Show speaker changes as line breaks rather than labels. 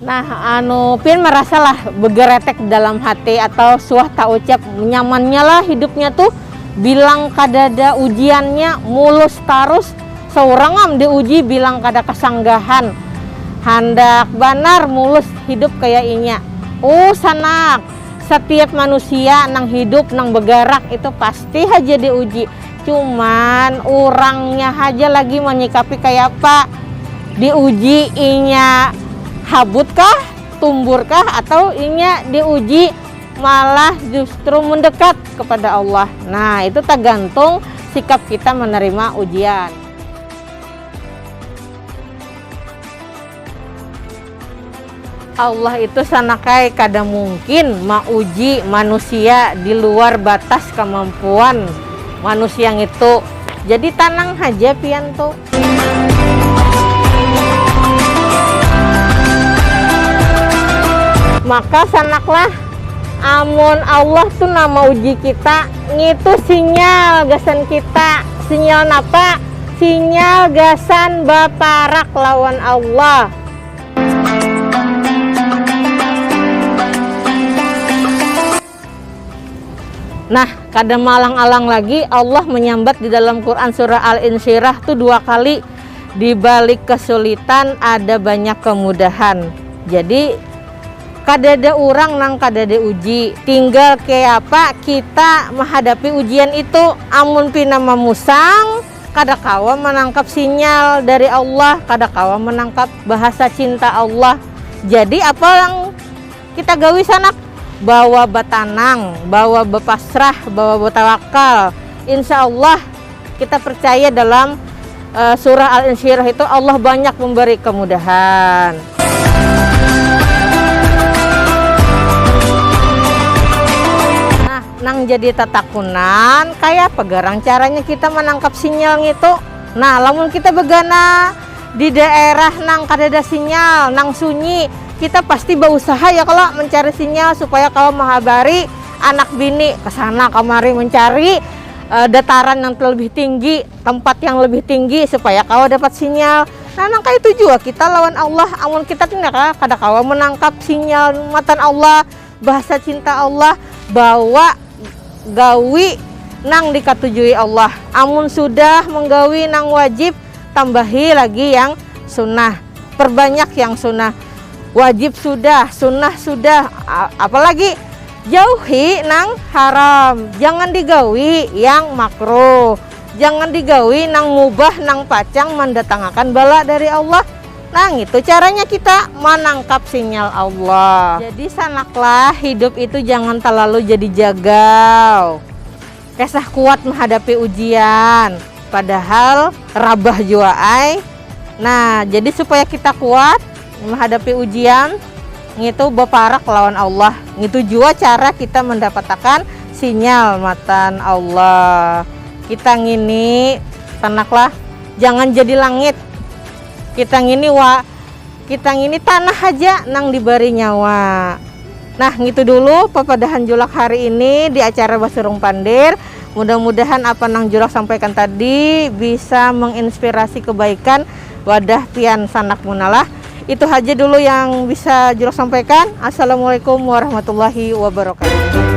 Nah, anu pian merasalah begeretek dalam hati atau suah taucap nyamannya lah hidupnya tuh, bilang kadada ujiannya, mulus tarus, seurang am diuji bilang kada kesanggahan, handak banar mulus hidup kaya inya. Uh sanak, setiap manusia nang hidup, nang begarak itu pasti haja diuji. Cuman urangnya haja lagi manyikapi kayapa, diuji inya habut kah, tumbur kah atau inya diuji malah justru mendekat kepada Allah. Nah, itu tagantung sikap kita menerima ujian. Allah itu sanakai kada mungkin mauji manusia di luar batas kamampuan manusia ngitu. Jadi tanang haja pian tu. Maka sanaklah, amun Allah tu nang mauji kita, ngitu sinyal gasan kita. Sinyal napa? Sinyal gasan baparak lawan Allah. Nah, kada maalang-alang lagi Allah menyambat di dalam Quran surah Al-Insyirah tu dua kali, di balik kesulitan ada banyak kemudahan. Jadi kadada urang nang kada diuji, tinggal kayapa kita mahadapi ujian itu. Amun pina mamusang, Kada kawa manangkap sinyal dari Allah, kada kawa manangkap bahasa cinta Allah. Jadi apa yang kita gawi sanak? Bawa batanang, bawa bapasrah, bawa batawakal. Insya Allah kita percaya dalam surah Al-Insyirah itu Allah banyak memberi kemudahan. Nang jadi tatakunan, kayapa garang caranya kita manangkap sinyal ngitu? Nah, lamun kita bagana di daerah nang kadada sinyal, nang sunyi, kita pasti bausaha ya kalo mancari sinyal supaya kawa mahabari anak bini kesana kamari mancari dataran nang lebih tinggi, tempat yang lebih tinggi supaya kawa dapat sinyal. Nah, nang kaya itu jua kita lawan Allah, amun kita kada kawa manangkap sinyal matan Allah, Bahasa cinta Allah bawa gawi nang dikatujui Allah. Amun sudah menggawi nang wajib, tambahi lagi yang sunnah. Perbanyak yang sunnah. Wajib sudah, sunnah sudah, apa lagi? Jauhi nang haram. Jangan digawi yang makruh. Jangan digawi nang mubah nang pacang mandatangakan bala dari Allah. Nah ngitu caranya kita manangkap sinyal Allah. Jadi sanaklah hidup itu jangan talalu jadi jagal. Kesah kuat mahadapi ujian. Padahal rabah jua ai. Nah jadi supaya kita kuat mahadapi ujian ngitu baparak lawan Allah. Ngitu jua cara kita mandapatakan sinyal matan Allah. Kita ngini sanaklah jangan jadi langit. Kita ngini wa, kita ngini tanah haja nang dibari nyawa. Nah ngitu dulu papadahan Julak hari ini di acara Basurung Pandir. Mudah-mudahan apa nang Julak sampaikan tadi bisa menginspirasi kebaikan wadah pian sanak muna lah. Itu haja dulu yang bisa Julak sampaikan. Assalamualaikum warahmatullahi wabarakatuh.